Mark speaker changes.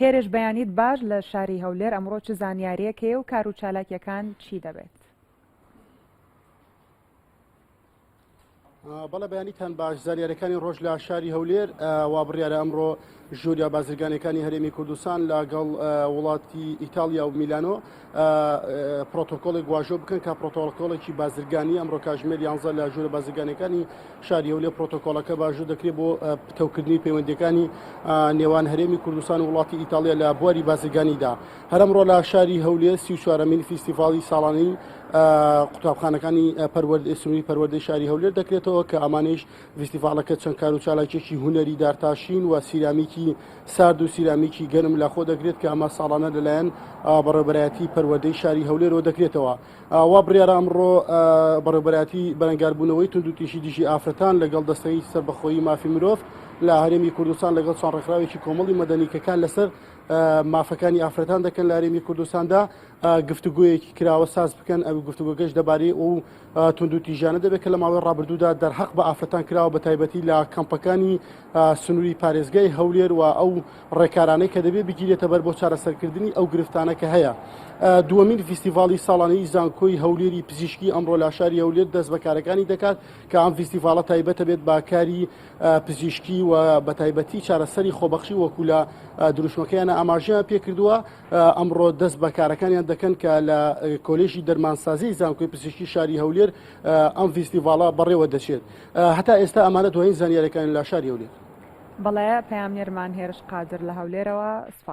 Speaker 1: هێرش بەیانیت باش لە شاری هەولێر ئەمڕۆ چ زانیاریەک هەیە و کارو چالاکیەکان چی دەبێت؟
Speaker 2: بەڵە بەیانیتان باش زانیارەکانی ڕۆژ لە شاری هەولێر وا بڕیاە ئەمڕۆ ژوریا بازرگانەکانی هەرێمی کوردستان لەگەڵ وڵاتی ئیتالیا و میلانۆ پرۆتۆکۆڵێک واژۆ بکەن کە پرۆتۆکۆڵێکی بازرگانی ئەمڕۆ کاژمێر یانزە لە ژوورە بازرگانەکانی شاری هەولێ پرۆتۆکۆڵەکە باژوو دەکرێت بۆ پتەوکردنی پەیوەندەکانی نێوان هەرێمی کوردستان و وڵاتی ئیتالیا لە بواری بازرگانیدا هەرمڕۆ لە شاری هەولێ سی چوارەمین فیستیڤاڵی ساڵانی قوتابخانەکانی پەروەردە سنووری پەروەردەی شاری هەولێر دەکرێتەوە کە ئەمانش ڤیستیڤاڵەکە چەند کارو چالاکیەکی هونەری دارتاشین و سیرامیکی سارد و سیرامیکی گەرم لە خۆ دەگرێت کە ئەمە ساڵانە لەلایەن بەڕێوبەرایەتی پەروەردەی شاری هەولێرەوە دەکرێتەوە وا بڕیارە ئەمڕۆ بەڕێوبەرایەتی بەرەنگاربوونەوەی توندوتیژی دژی ئافرەتان لەگەڵ دەستەی سەربەخۆیی مافی مرۆڤ لە هەرێمی کوردستان لەگەڵ چەند ڕێکخراوێکی کۆمەڵی مەدەنی کە کار لەسەر مافەکانی ئافرەتان دەکەن لە هەرێمی کوردستاندا گفتوگۆیەکی کراوە ساز بکەن ئەو گفتوگۆگەش دەبارەی ئەو توندوتیژانە دەبێت کە لە ماوەی ڕابردوودا دەرهەق بە ئافرەتان کراوە بە تایبەتی لە کەمپەکانی سنووری پارێزگای هەولێر و ئەو ڕێکارانەی کە دەبێت بگیرێتە بەر بۆ چارەسەرکردنی ئەو گرفتانە کە هەیە دووەمین فیستیڤاڵی ساڵانەی زانکۆی هەولێری پزیشکی ئەمڕۆ لاشاری هەولێر دەست بەکارەکانی دەکات کە ئەم فیستیڤالە تایبەتە بێت باکاری پزیشکی و بە تایبەتی چارەسەری خۆبەخشی وەکو لە دروشمەکەیانە ئاماژیان پێکردووە ئەمڕۆ دەست بە کارەکانیان دەکەن کە لە کۆلێژی دەرمانسازی زانکۆی پزیشکی شاری هەولێر ئەم فیستیڤاڵە بەڕێوە دەچێت هەتا ئێستا ئەمانە دوایین زانیارەکان لە شاری
Speaker 1: هەولێر
Speaker 2: بەڵێ
Speaker 1: پەیامنێرمان هێرش قادر
Speaker 2: لە
Speaker 1: هەولێرەوە سپاس.